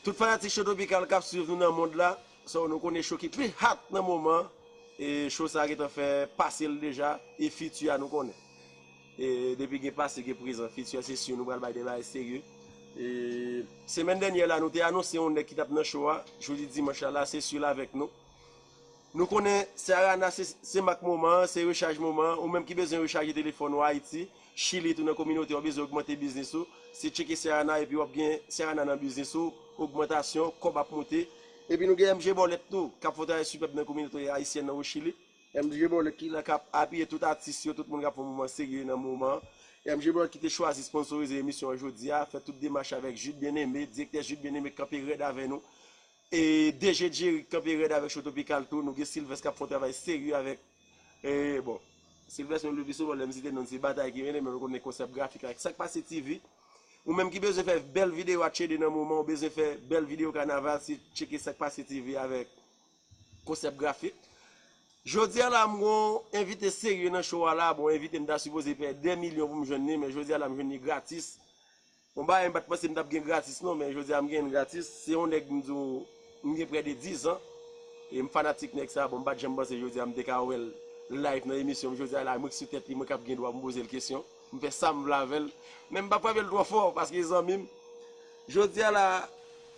Tout fanatik Cho Tropikal kap swiv nou nan mond la, so nou konnen Cho ki pi hot nan moman, e Cho sa gentan fè pase l deja, e fiti a nou konnen. Depi gen pase gen prezan future se sur nou pral bay de bagay serye Semèn dènyè la nou te anonse yon nèg ki tap nan show a Jodi dimanch la la se sur l avèk nou Nou konnen Sarana se mak moman an se rechaj moman an ou menm ki bezwen rechaje telefòn ou Ayiti Chili tou nan kominote a ou bezwen ogmante biznis ou se tcheke Sarana epi wap gen Sarana nan biznis ou ogmantasyon kòb ap moute epi nou gen MG Bòlèt tou kap fon travay sipèb nan kominote Ayisyèn nan o Chili. MJ Brown et Lina kap apiye tout atis yo, tout moun kap fè yon moman serye nan moman. MJ Brown ki te chwazi sponsorize emisyon an jodi a, fè tout demach avèk Jude Bien Aimé, direktè Jude Bien Aimé kanpe rèd avè nou. E DG Jerry kanpe rèd avèk Show Topikal tou, nou gen Sylvest kap fè yon travay serye avèk e bon. Sylvest menm le pi souvan lèm site nonn se batay ki mennen men nou konnen konsèp grafik la ak sak pase TV. Ou menm ki bezwen fè bèl videyo atchede nan moman, ou bezwen fè bèl videyo kanaval se tcheke sak pase TV avèk. Konsèp grafik. Jodi a la m gon envite serye nan show a la, bon envite m ta sipoze pè 2 milyon pou m jwenn li men jodi a la m jwenn li gratis. Yon bagay m pat panse m tap gen gratis non men jodi a m genyen l gratis. Se yon nèg m di w m gen prè de 10 an e m fanatik nèg sa bon m pat janm panse jodi a m te ka wè l live nan emisyon m jodi a la m rik sou tèt li mwen kap gen dwa pou m poze l kesyon. M fè sam vle avèl men m pa frapel twò fò paske e zanmim Jodi a la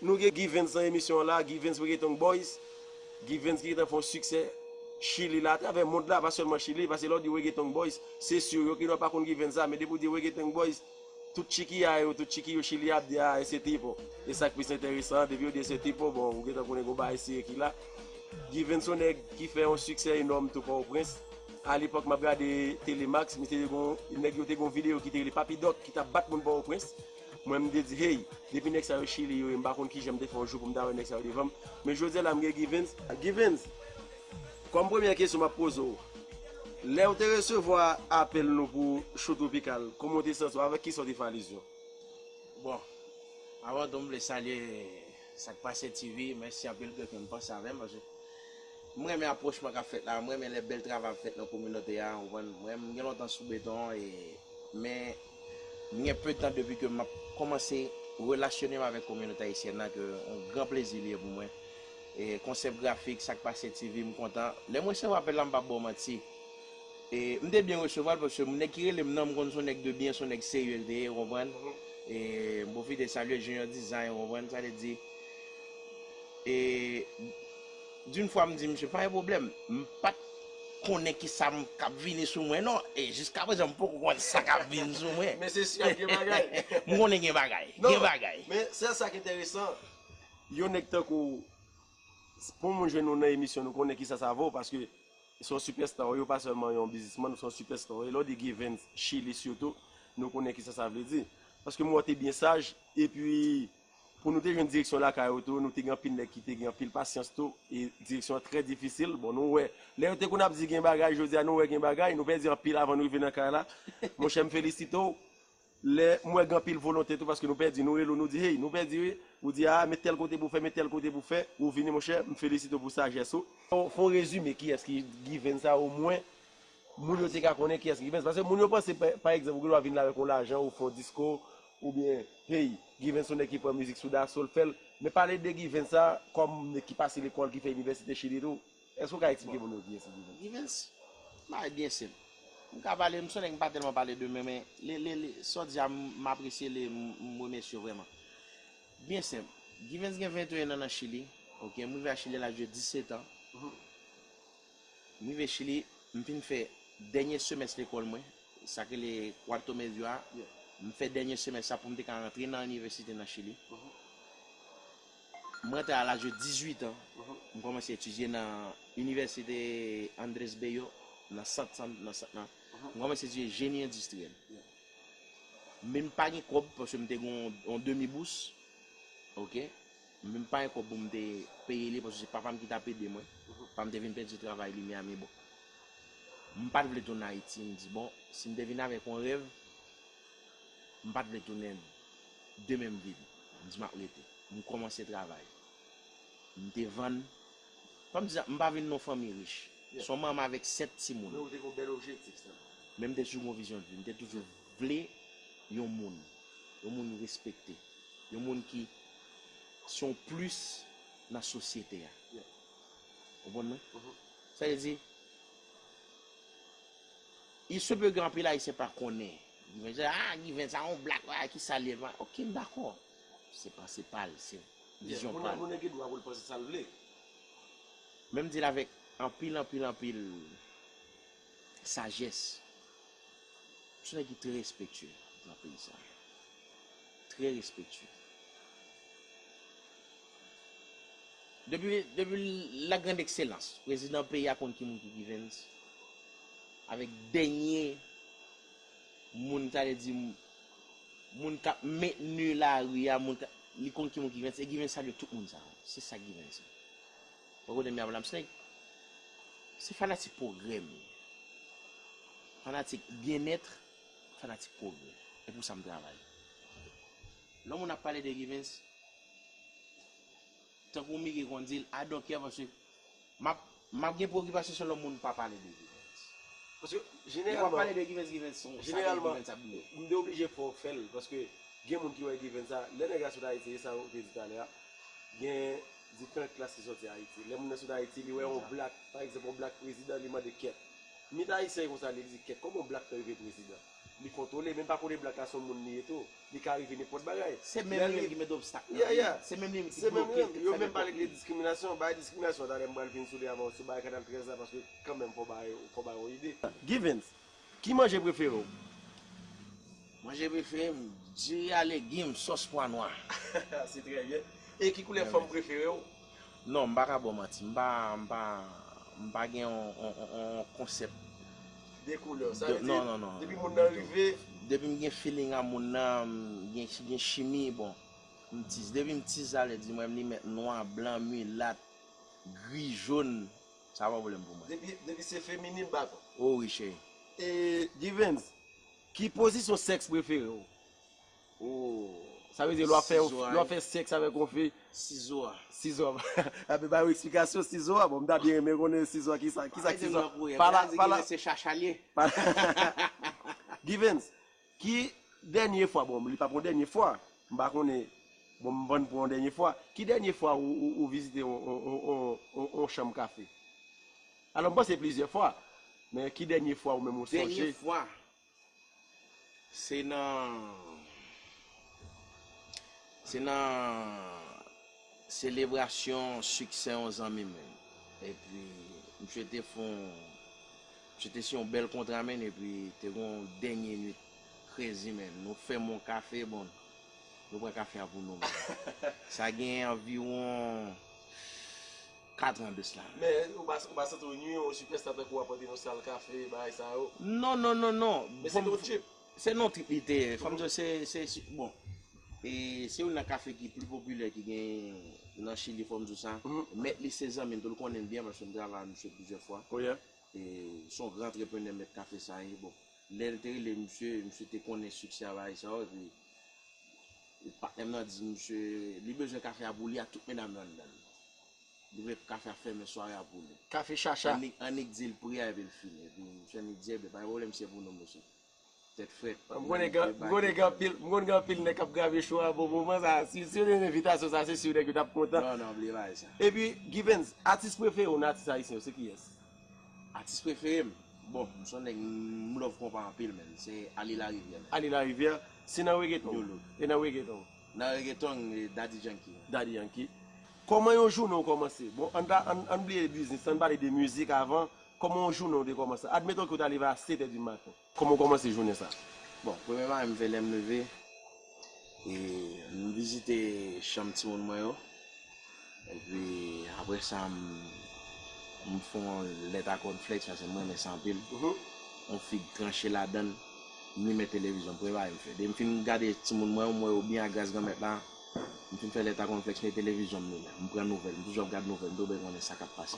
nou gen Guy Vens nan emisyon an la Guy Vens Reggaeton Boys Guy Vens ki gentan fè yon siksè Chili la atravè mond la pa sèlman Chili paske lè w di Reggaeton Boys se sur yo ki nò pa konn Guy Vens a men depi w di Reggaeton Boys tout chikiya yo tout chiki yo Chili a ap di a ese tipo e sa k plis enteresan an depi yo di ese tipo bon ou gentan konnen gen yon bagay sere ki la Guy Vens se yon nèg ki fè yon siksè enòm tou Pòtoprens A lepòk map gade tele max misye te gon nèg yo te gon video ki te rele papi dòk ki tap bat moun pòwoprens mwen m te di hey depi nèg sa yo chili yo ye m pa konn kijan m te fè yon jou pou m ta wè nèg sa yo devan m men jodi a la m gen givens givens kòm premyè kesyon map poze w lè w te resevwa apèl nou pou show tropical kòman w te santi w avèk kisa w te fè alizyon. Bon avan tou m vle salye. Sak pase TV mèsi anpil ke fèm panse avèm paske m renmen apwochman kap fèt la m renmen lè bèl travay ap fèt nan kominote a ou konprann mwen m gen lontan sou beton e men m gen peu tan depi ke map komanse relasyone m avèk kominote ayisyèn nan ke yon gran plezi li ye pou mwen e konsèp grafik sak pase TV m kontan lèm resevwa apèl la m pap baw manti. E m te byen resevwa l paske nèg ki rele m nan m konn s on nèg de byen s on nèg serye l te ye ou konprann. E m pwofite salye Junior Design ou konprann sa vle di. E d'une fwa m di misye pa gen pwoblèm m pa t konnen ki sa m k ap vini sou mwen non e jiska prezan m poko konn sa k ap vin sou mwen. Men se si ap gen bagay. M konnen gen bagay, gen bagay. Non, men sèl sa k enteresan yon nèg tankou w s pou moun jwenn ou nan emisyon nou konnen ki sa sa vo paske Ou son sipèsta ou ye, ou pa sèlman yon bizismann, ou son sipèsta ou ye. Lè w di Givens Chili sitou, nou konnen kisa sa vle di. Paske m wè w te byen saj, epi pou nou te jwenn direksyon lakay ou tou, nou te gen anpil nèg ki te gen anpil pasyans tou, e direksyon an trè difisil. Bon nou wè, lè yo te konn ap di gen bagay, jodi a nou wè gen bagay, nou pèdi anpil avan nou rive nan kay la. Monchè m felisite w. Lè m wè gen anpil volonte tou paske nou pèdi, nou rele w nou di hey nou pèdi wi, ou di aa met tèl kote pou w fè, met tèl kote pou w fè, ou vini monchè, m felisite w pou sajès ou. Fè yon rezime kiyès ki Givens sa omwen moun yo te ka konnen kiyès ki Givens. Paske moun yo panse pa egzanp ou gen dwa vin la avèk yon lajan ou fè yon disko oubyen hey Givens se yon nèg ki pran mizik sou daso l fè l men pale de Givens sa kòm nèg ki pase lekòl ki fè inivèsite chili tou. Èske ou ka eksplike pou nou ki esi Givens? Givens? Bon bagay byen senp. M ka pale, m sonnen m pa tèlman pale de men, men le, le, le, sa w di a m apresye l e m remèsye w vrèman. Byen senp. Givens gen 21 an nan Chili, oke, m rive a Chili a laj de 17 an. M rive Chili, m fin fè dènye semès lekòl mwen, sa k rele Cuarto Medio a, m fè dènye semès sa pou m te ka antre nan inivèsite nan Chili. M rantre a laj de 18 an, m kòmanse etidye nan Inivèsite Andres Bello nan sant san, nan sant nan. M kòmanse etidye jeni endistriyèl. Men m pa gen kòb paske m te gen yon demi bous, ok, men m pa gen kòb pou m te peye li paske se papa m ki t ap ede mwen. Papa m te vin pèdi travay li Miami bon. M pa t vle tounen Ayiti, m di bon, si m te vin avèk yon rèv, m pa t vle tounen. Demen m vini. M di m ap rete. M kòmanse travay. M te vann. Fò m di sa, m pa vin nan yon fanmi rich. Se yon manman avèk sèt timoun. Men ou te gen yon bèl objektif sèlman. Men m te toujou gen yon vizyon de vi. M te toujou vle yon moun. Yon moun respekte. Yon moun ki se yon plis nan sosyete a. Ou konprann mwen? Sa vle di, il se peut gen anpil Ayisyen pa konnen Given se ah given sa yon black ah kisa li ye ok m dakò se panse pal se vizyon pal. Moun nan gen dwa pou l panse sa l vle. Men m di l avèk anpil anpil anpil sajès se yon nèg ki trè respektye nan peyi sa trè respektye. Depi la grand ekselans prezidan peyi a konn ki moun ki givens avèk dènye moun sa vle di moun kap mentni lari a moun kap li konn ki moun ki givens e givens salye tout moun sa yo se sa givens ye ou pa konnen m ya madam snake se fanatik pwogrè m ye fanatik byennètre fanatik pwogrè e pou sa m travay lè moun ap pale de givens Tankou Miki konn di l, I don't care paske map map gen preokipasyon selon moun pa pale de Givens. Paske jeneralman. Yo pa pale de Givens, Givens son sa ke Givens ap di yo. M te oblije fè w fè l paske gen moun ki wè Givens sa, lè nèg la sot Ayiti e sa ou te di talè a, gen diferant klas ki soti Ayiti. Lè moun nan sot Ayiti li wè yon blak, pa egzanp yon blak prezidan li mande kèt. Mit Ayisyen e konsa li di kèt kòman yon blak ka rive prezidan? Li kontwole, men pa konnen black la son moun li ye tou. Li ka rive nenpòt bagay. Se menm li menm ki met obstak nan vi l. Se menm li menm ki bloke l, ki fè nenpòt bagay. Yo menm pale de diskriminasyon. Bagay diskriminasyon an talè m pral vin sou li avan ou sou bagay kanal 13 la paske kanmenm fò w bay fò w bay yon ide. Givens, ki manje prefere w? Manje prefere m, diri a legim, sòs pwa nwa. Se trè byen. E ki koulè fanm prefere w? Non m pa ka baw manti m pa m pa m pa gen yon yon konsèp de koulè sa vle di depi moun nan rive depi m gen feeling a moun nan m gen gen chimi bon m tiz depi m tiz sa vle di mwen m li mèt nwa blan milat gri jaune sa pa pwoblèm pou mwen depi depi se feminin m dakò o wi cheri. E Givens ki pozisyon sèks prefere w? Ooh sa vle di lè wap fè lè wap fè sex avèk yon fi sizo a sizo a epi ba yo esplikasyon sizo a bon m ta byen renmen konnen sizo a kisa kisa sizo a pala pala se chacha liye Givens ki dènye fwa bon li pap yon dènye fwa m pa konnen bon m vann pou yon dènye fwa ki dènye fwa ou vizite yon chanm kafe alò m panse se plizyè fwa men ki dènye fwa ou menm ou sonje dènye fwa Se nan Se nan selebrasyon siksè yon zanmi mwen. Epi msye te fon msye te siyon bèl kontra men epi te gon yon dènye nwit krezi men. Nou fèmen yon kafe bon nou pran kafe a pou nou men. Sa gen anviwon 4 ans de cela. Men ou pa ou pa santi w nwi yon sipèsta tankou wap pote yon sal kafe bagay sa yo. Non non non non. Men se te yon trip. Se non trip li te ye. Fòm di w se se bon e se youn nan kafe ki pli popilè ki gen nan chili fòm di w sa. Mèt li se zanmi m tou l konnen m byen paske m travay ak misye plizyè fwa. Son gran antreprenè mèt kafe sa ye bon. Lè l te rele misye, misye te konnen siksè avayè sa yo epi patnè m nan di misye li bezwen kafe a pou li ak tout medam yo anndan. Li vle kafe a fèmen sware a pou li. Kafe chacha. Annik di l pri a epi l fini. Epi misye annik di enben pa gen pwoblèm si se pou nou mesye. Tèt frèt. M konnen gen anpil, m konnen gen anpil nèg k ap grave cho a bon moman sa a. Si yo te gen envitasyon sa a se si nèg yo t ap kontan. Non, non, bliye bagay sa. Epi Givens, atis prefere w nan atis ayisyen yo se kiyès? Atis prefere m, bon m son nèg m love konpa anpil menn, se Aly Larivière. Aly Larivière, si nan reggaeton w, e nan reggaeton w? Nan reggaeton m, e Daddy Yankee. Daddy Yankee. Kòman yon jounen w kòmanse? Bon ann ta, ann bliye biznis lan, ann pale de mizik avan, kòman yon jounen w te kòmanse? Admeton ke w ta leve a 7 è di maten. Kòman ou kòmanse jounen sa? Bon, premye bagay m fè lè m leve, e m vizite chanm timoun mwen yo, epi apre sa m fè yon lèt a kònflèks paske m renmen sa anpil, yon fig tranche ladan l, m limen televizyon m, premye bagay m fè. Depi m fin gade timoun mwen yo, m wè yo byen agras Granmèt la, m fin fè lèt a kònflèks, m mete televizyon m limen, m pran nouvèl, m toujou ap gad nouvèl, m toujou bezwen konnen sa k ap pase.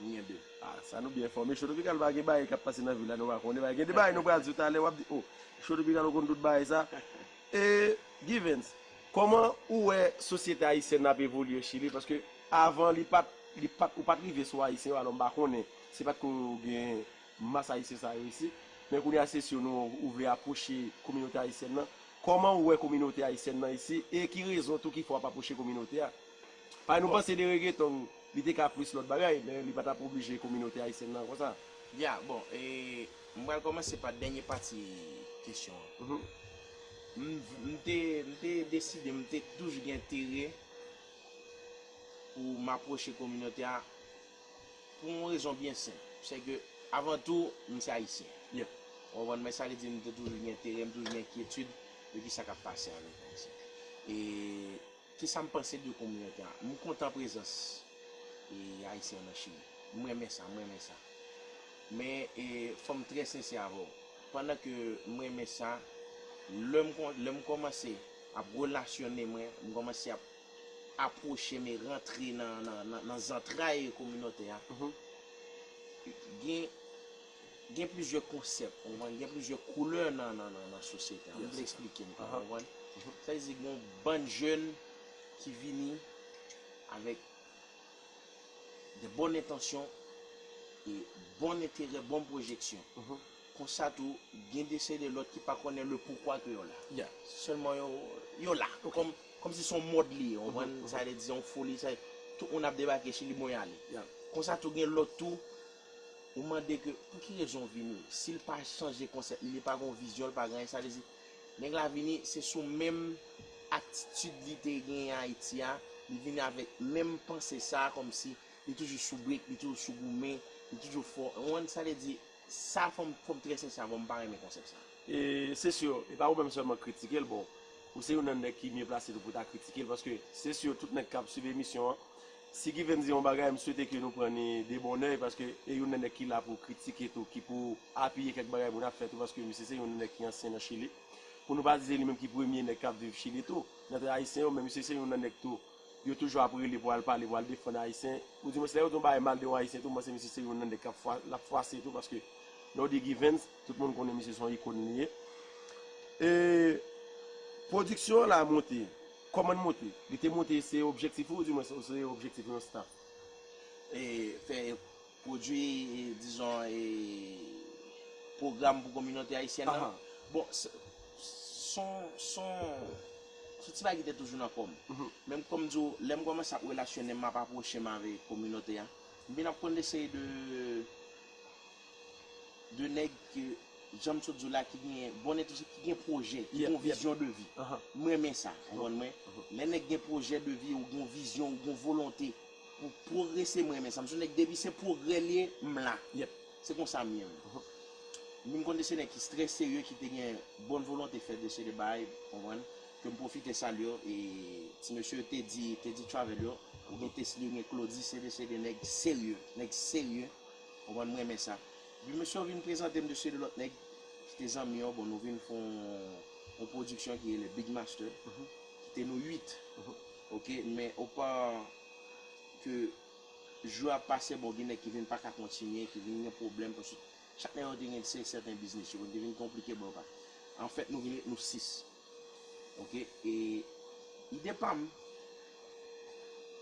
Nou gen 2. Ah sa nou byen enfòme Show Tropical pa gen bagay kap pase nan vil la nou pa konnen bagay gen de bagay nou pral di w talè wap di oh Show Tropical ou konn tout bagay sa eh Givens kòman ou wè sosyete ayisyèn nan ap evolye chili paske avan li pat li pat ou pat rive sou ayisyen yo alò m pa konnen se pat ko gen mas ayisyen sa yo isit men kounye a se sou nou ou vle apwoche kominote ayisyèn nan kòman ou wè kominote ayisyèn nan isi e ki rezon tou ki fè wap apwoche kominote a. Pay nou panse de regeton li te ka plis lòt bagay men li pa tap oblije kominote ayisyèn nan konsa. Ya bon e m pral kòmanse pa dènye pati kesyon an. M te m te deside m te toujou gen enterè pou m apwoche kominote a pou yon rezon byen senp se ke avan tou m se ayisyen ou konprann men sa vle di m te toujou gen enterè m toujou gen enkyetid de kisa kap pase avèk ayisyen e Kisa m panse de kominote a? M kontan prezans Ayisyen an nan Chili. M renmen sa, m renmen sa. Men, fò m trè sensè avè w. Pandan ke m renmen sa, lè m kòmanse ap relasyone mwen, m kòmanse ap apwoche m e rantre nan zantray kominote a, gen Gen plizyè konsèp, ou konprann, gen plizyè koulè nan nan sosyete a. M vle eksplike m, ou konprann? Sa vle di gen yon bann jèn ki vini avèk de bòn entansyon e bon enterè, bon pwojeksyon. Konsa tou, gen de seri de lòt ki pa konnen le poukwa ke yo la. Se sèlman yo, yo la. Kòm si se yon mòd li ye, ou konprann? Sa vle di se yon foli, se tout moun ap debake chili bon y ale. Konsa tou gen lòt tou. Ou mande ke pou ki rezon vini. Si l pa chanje konsèp li, li pa gen yon vizyon, li pa gen anyen, sa vle di nèg la vini se sou menm atitid li te genyen Ayiti a, li vini avèk menm panse sa a kòm si li toujou sou brik, li toujou sou goumen, li toujou fò. Ou konprann sa vle di? Sa fò m fò m trè sensè avè w, m pa renmen konsèp sa. E se si e pa ou menm sèlman k kritike l, bon ou se youn nan nèg ki mye plase tou pou ta kritike l paske se si tout nèg k ap swiv emisyon an. Si Given di yon bagay, m swete ke nou pran ni de bon oeil paske e youn nan nèg ki la pou kritike tou, ki pou apiye kèk bagay moun ap fè tou paske misye se youn nan nèg ki ansyen nan Chili. Pou nou pa di se li menm ki premye nèg k ap viv Chili tou, nan tan Ayisyen yo, men misye se youn nan nèg tou yo toujou ap rele pou al pale, pou al defann Ayisyen, ou di mwens lè yo di yon bagay mal de yon Ayisyen tou, m panse misye se youn nan nèg k ap fwa, l ap fwase tou paske lè w di Given, tout moun konnen misye se yon ikon li ye. E pwodiksyon an la monte, Kòman n monte? Li te monte se objektif ou di mwens ou se objektif yon staff? E fè pwodwi e dizon e pwogram pou kominote ayisyèn nan. Bon son son son ti bagay ki te toujou nan kò m. Men kòm m di w lè m kòmanse ap relasyone m ap apwoche m avè kominote a m vin ap konn de seri de 2 nèg ke janm sot diw la ki gen bon entènsyon ki gen projè ki gen yon vizyon de vi m renmen sa ou konprann mwen lè nèg gen projè de vi ou gen yon vizyon ou gen yon volonte pou progrese m renmen sa m son nèg depi se progrè li ye m la se konsa m ye menm m konn de se nèg ki trè serye ki te gen bon volonte fè de se de bagay ou konprann ke m pwofite salye yo e ti mesye yo te di te di travel yo ou gen tesly ou gen claudy se de se de nèg serye nèg serye Ou konprann m renmen sa. Epi mesye yo vin prezante m de se de lòt nèg ki te zanmi yo bon nou vin fè yon pwodiksyon ki rele Big Master ki te nou 8 ok men opa ke jou ap pase bon gen nèg ki vin paka kontinye ki vin gen pwoblèm paske chak nèg yo te gen se sèten biznis yo te vin konplike bon yo pa anfèt nou vin ret nou 6 ok e ide pa m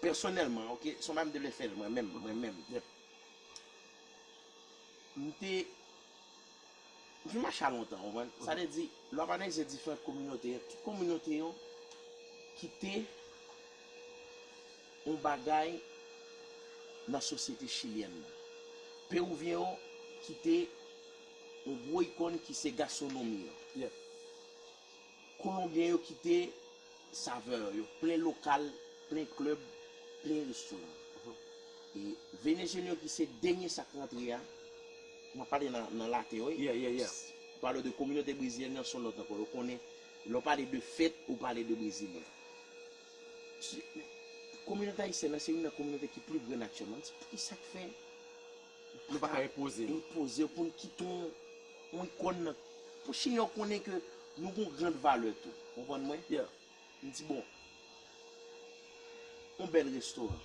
pèsonèlman ok se yon bagay m te vle fè mwen menm mwen menm M te Fi m mache a lontan ou konprann. Sa vle di lè w ap analize diferant kominote yo, tout kominote yo kite yon bagay nan sosyete chilyèn nan. Pewouvyen yo kite yon gwo ikon ki se gaswonomi yo. Kolonbyen yo kite savè yo plen lokal, plen klèb, plen restoran. E Venezyelyen yo ki se dènye sa k rantre a, m ap pale nan laten wi, pale w de kominote brezilyèn nan s on lòt ankò. Yo konnen lè w pale de fèt, ou pale de brezilyen. Kominote ayisyèn nan se youn nan kominote ki pli grann aktyèlman. M di, Ki sa k fè? Nou pa ka enpoze nou. Enpoze pou n kite yon yon ikòn nan. Pou Senyè konnen ke nou gen yon grand valè tou. Ou konprann mwen? Yeah. M di bon, yon bèl restoran.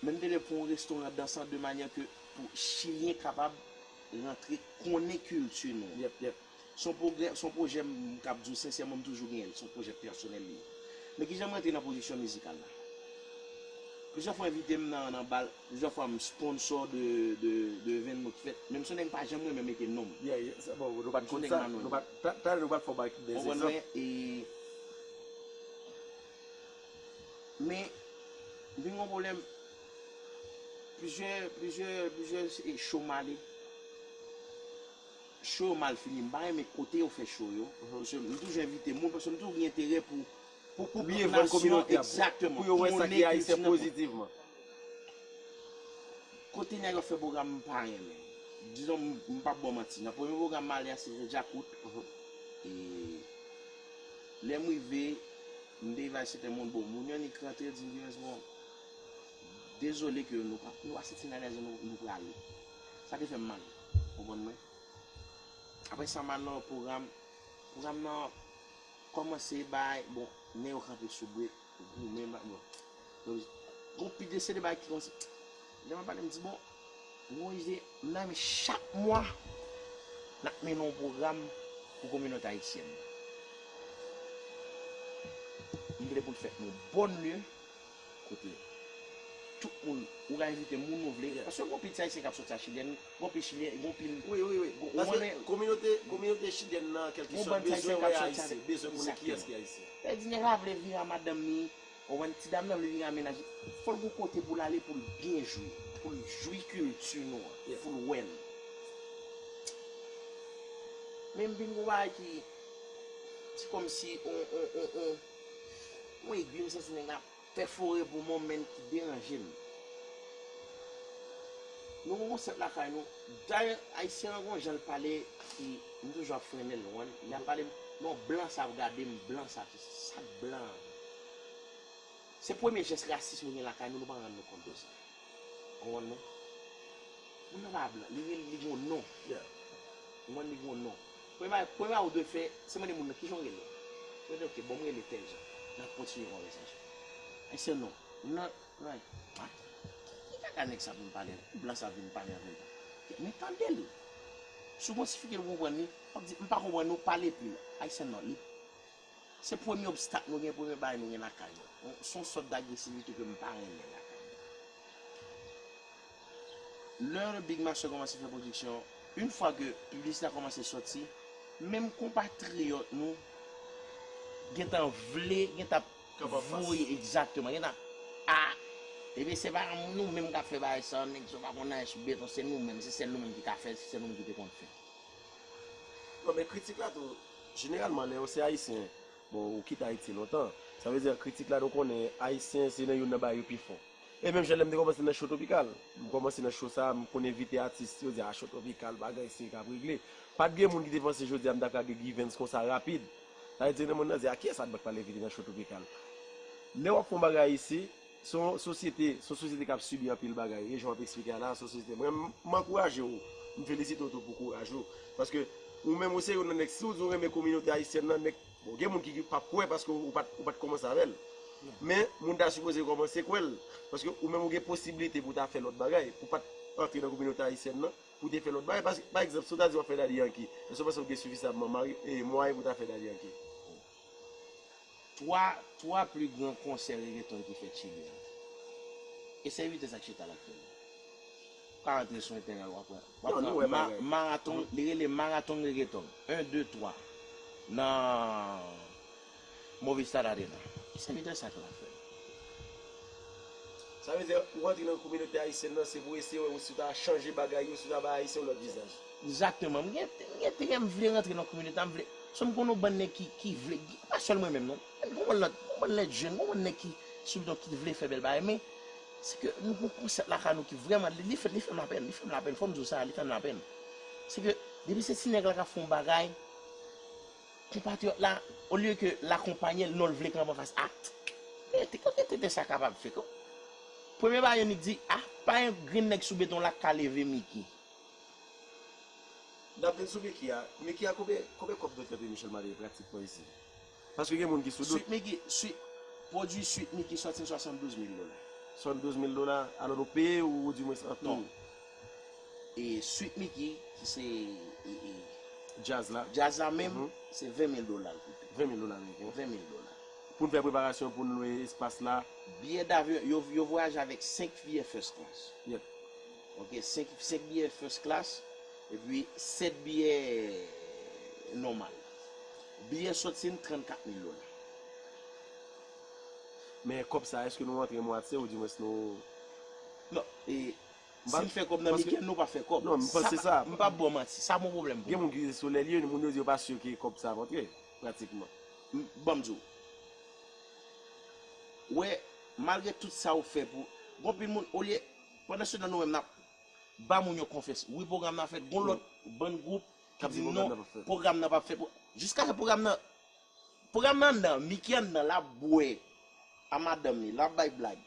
Men m te vle pou yon restoran dansan de manyè ke pou Chilyen kapab rantre konnen kilti nou. Yep, yep. Son pwogrè, son pwojè m kab di w sensèman m toujou genyen l, son pwojè pèsonèl li ye. Men kijan m rantre nan pwodiksyon mizikal la. Plizyè fwa envite m nan nan bal, plizyè fwa m sponsò de de de evènman ki fèt, men m son nèg m pa janm renmen mete non m. Yeah yeah sa bon nou pa t konn sa, nou pa t, talè nou pa t fè w bay de egzanp. Konprann mwen e Men m vin gen yon pwoblèm, plizyè plizyè plizyè show m ale, Show yo mal fini m pa renmen kote yo fè show yo paske m toujou envite moun paske m toujou gen enterè pou pou byen vann kominote a pou yo wè sa ki ayisyen pozitivman. Kote nèg yo ap fè pwogram m pa renmen dizon m pap baw manti nan premye pwogram m ale a se te djakout e lè m rive m te rive a yon sèten moun bon moun yo nik rantre yo di m givens bon dezole ke nou pa nou pa santi n alèz nou prale sa te fè m mal. Konprann mwen. Aprè sa Manno pwogram pwogram nan kòmanse bay bon nen yo kanpe sou brek goumen ba bon yo gon pi de se de bagay ki kòmanse lè map pale m di bon gon ide m nan men chak mwa nap mennen yon pwogram pou kominòte ayisyèn nan m vle pou l fèt nan yon bòn lye. Kote tout moun ou ka envite moun ou vle paske gon pil ayisyen kap soti a chilyen gon pil chilyen gon pil wi wi wi paske kominote kominote chilyèn nan kelki sòt bezwen wè ayisyen bezwen konnen kiyès ki ayisyen sa vle di nèg la vle vini a madanm ni ou konprann ti dam nan vle vini a mennaj li fòl gon kote poul ale poul byen jwi poul jwi kilti nou an yes poul wèl menm vin gon bagay ki se kòmsi on on on on. Yon egwi m santi nèg la pèfore pou mwen menn ki deranje m. Nou gen konsèp lakay nou, dayè ayisyen an gen yon jan l pale ki m toujou ap frennen l ou konprann, lè ap pale m non blan sa ap gade m, blan sa ap se si, sa k blan an? Se premye jès rasis nou gen lakay nou, nou pa rann nou kont de sa. Ou konprann non? Moun nan pa blan, li gen yon non, ou konprann li gen yon non. Premye bagay ou dwe fè, se mande moun nan kijan ou rele. Yo di ok, bon m rele tèl jan. N ap kontinye konvèsasyon. Ayisyen non. Moun nan, mwen, ah, ki kaka nèg sa vin pale la? Ki blan sa vin pale avè m la? Men tande l. Si w kontifike l ou konprann li, w ap di, m pa konprann ou, pale pi lò. Ayisyen non. Li. Se premye obstak mwen gen, premye bagay mwen gen lakay mwen. Se yon sòt dagresivite ke m pa renmen lakay mwen. Lè Big Master kòmanse fè pwodiksyon, yn fwa ke piblisite a kòmanse sòti, menm konpatriyòt nou gen tan vle, gen tan ap voye, egzakteman, gen tan ap, a! Ebyen se pa nou menm k ap fè bagay sa, nèg sa yo pa konn anyen sou beton, se nou menm, se sèl nou menm ki ka fè l, se sèl nou menm ki te konn fè l. Non men kritik la tou, jeneralman lè ou se ayisyen, bon ou kite Ayiti lontan, sa vle di kritik la nou konnen ayisyen se nan youn nan bagay yo pi fò. E menm jan lè m te kòmanse nan Show Tropikal, m kòmanse nan show sa, m konn envite atis, yo di a Show Tropikal bagay se k ap regle. Pa t gen moun ki te panse jodi a m ta ka gen Givens konsa rapid. Sa vle di nan moun nan di a kiyès Adbank pral envite nan Show Tropikal. Lè w ap fè yon bagay isi. Se yon sosyete, se yon sosyete kap sibi anpil bagay e jan w ap esplike a la se yon sosyete, mwen m ankouraje w, m felisite w tou pou kouraj ou, paske ou menm ou se youn nan nèg si w di w renmen kominote ayisyèn nan nèg, bon gen moun ki ki pap kwè paske ou pat ou pat kòmanse avè l, men moun ta sipoze kòmanse kwè l, paske ou menm ou gen posiblite pou w ta fè lòt bagay, pou w pat antre nan kominote ayisyèn nan, pou w te fè lòt bagay, paske pa egzanp si w ta di w ap fè dadyanki, èske w panse ou gen sifisamman mwayen pou w ta fè dadyanki? 3 twa pli gran konsè regeton ki fèt chili an e se vitès ak chita lap fèl pa antre sou entènèl wap pran maraton li rele maraton regeton 1 2 3 nan movistad arena e se vitès sa ke lap fèl sa vle di ou antre nan kominote ayisyèn nan se pou eseye wè si ou ta chanje bagay yo si ou ta bay ayisyen yon lòt vizaj. Exactement m gen gen te gen m vle rantre nan communauté a m vle so m konn yon bann nèg ki ki vle gen pa sèl mwen menm non men gon bann lòt gon bann lèt jèn gon bann nèg ki sou bidon ki vle fè bèl bagay men se ke nou gon konsèp lakay nou ki vrèman li fè li fè m lapèn li fè m lapèn fò m di w sa li fè m lapèn se ke depi se ti nèg la k ap fè yon bagay konpatriyòt la olye ke l akonpanye l non l vle kanpe anfas a men te kote tenten sa kapab fèt o premye bagay yo nik di a pa yon grenn nèg sou beton la k ka leve Miki. Nap vin sou Micky a, Micky a konbyen konbyen kòb Doktè P Michel mande pratik mwen isi? Paske gen moun ki sou dout. Suite Micky, suite Pwodui suite Micky sòti n 72 mil dola. 72 mil dola, alò nou peye ou di mwens an ton. E suite Micky ki se Djaz la. Djaz la menm se 20 mil dola l koute. 20 mil dola ameriken. 20 mil dola. Pou n fè preparasyon pou n lwe espas la. Biyè davyon, yo vwayaje avèk 5 fiyè first class. Yep. Ok 5 biyè first class epi 7 biyè normal. Biyè sòti n 34 mil dola. Men kòb sa eske nou rantre mwatye ou di mwens nou. Non e si n fè kòb nan weekend nou pa fè kòb. Non m panse sa. M pap baw manti sa bon pwoblèm pou mwen. Gen moun ki se sou lè l ye moun yo di yo pa sur ke kòb sa ap antre pratikman. Ban m di w. Wè malgre tout sa ou fè pou gon pil moun olye. Pandan se tan nou menm nap Ba moun yo konfyans wi pwogram nan ap fèt gon lòt bann gwoup kap di non pwogram nan pap fèt jiskaske pwogram nan pwogram nan nan Mickey an nan lap bwè a madanm li lap bay blag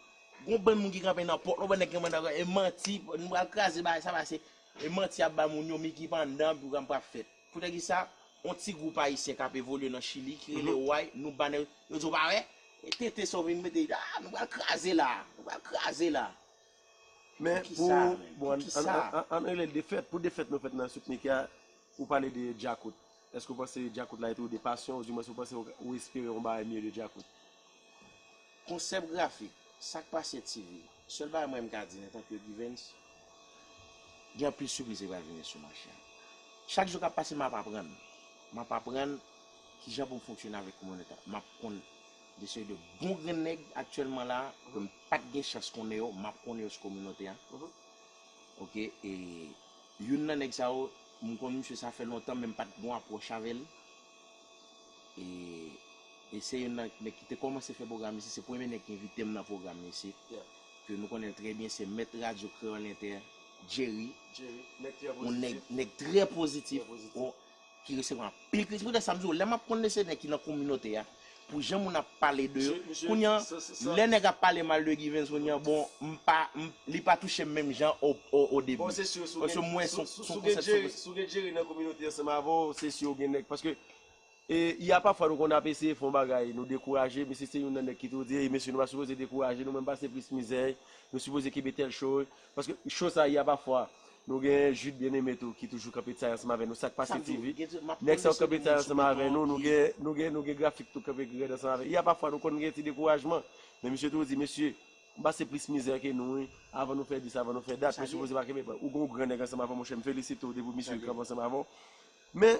gon bann moun ki kanpe nan pòt la ou wè nèg ki kanpe nan pòt e manti nou pral kraze bagay sa pase e manti yap ba moun yo Mickey pandan pwogram pap fèt. Poutèkisa yon ti gwoup ayisyen kap evolye nan chili ki rele oay nou ba nèg yo di w pa wè e tenten sa w vin mete a nou pral kraze la nou pral kraze la men pou poukisa an rele l defèt pou defèt nou fèt nan souk mike a ou pale de djakout èske w panse djakout la ete yon de pasyon ou di mwen se w panse ou espere yon bagay mye de djakout. Konsèp grafik, sak pase TV? Sèl bagay mwen m ka di antan ke Givens, gen anpil sipriz ki pral vini sou mache a. Chak jou k ap pase m ap aprann, m ap aprann kijan pou m fonksyone avèk kominote a. M ap konn de seri de bon grenn nèg aktyèlman la a, ke m pa t gen chans konnen yo, m ap konnen yo sou kominote a. Ok, e youn nan nèg sa yo, m konn misye sa fè lontan men m pa t gen yon apwòch avè l. E se youn nan nèg ki te kòmanse fè pwogram isit, se premye nèg ki envite m nan pwogram isit, ke nou konnen l trè byen, se mèt radyo Kreyòl Entè, Jerry, yon nèg, nèg trè pozitif, ki resevwa anpil kritik. Se poutèt sa m di w, lè m ap konn de se nèg ki nan kominote a, Pou jan moun ap pale de yo kounya lè nèg ap pale mal de Givens kounya bon m pa m li pa touche m menm jan o debi paske m wè son konsèpsyon ke Si w gen Jerry nan kominote ansanm avè w se si w gen nèg paske e y a pafwa nou konn ap eseye fè yon bagay nou dekouraje misye se youn nan nèg ki toujou di ey mesye nou pa sipoze dekouraje nou menm pase plis mizè nou sipoze kenbe tèl cho Paske show sa ya pa fwa. Nou gen Jude Bien Aimé tou ki toujou kanpe tay ansanm avè nou sak pase TV. Nèg sa yo kanpe tay ansanm avè nou, nou gen nou gen nou gen grafik tou kanpe rèd ansanm avè. Ya pa fwa nou konn gen ti dekourajman. Men misye toujou di mesye, m pase plis mizè ke nou wi, avan nou fè dis avan nou fè dat, misye sipoze pa kenbe, ou gen yon gran nèg ansanm avè w monchè m felisite w depi w misye kanpe ansanm avè w. Men.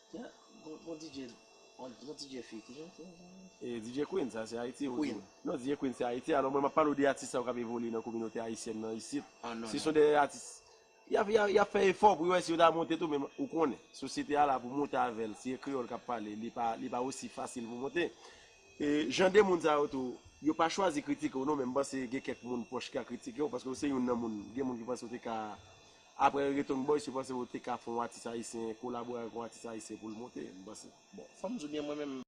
DJ Queen sa se Ayiti ou di? Non DJ Queen se Ayiti alò mwen map pale w de atis sa yo kap evolye nan kominote ayisyèn nan isit se son de atis yap fè efò pou yo wè si yo ta monte tou men ou konnen sosyete a la pou monte avè l si e kreyòl kap pale li pa osi fasil pou monte e jan de moun sa yo tou yo pa chwazi kritike w non men m panse gen kèk moun pwòch ki ka kritike w paske ou se youn nan moun gen moun ki panse w te ka Aprè return boy se panse ou te ka fè yon atis ayisyen kolabore avèk yon atis ayisyen poul monte m panse bon fòm di ou byen mwen menm.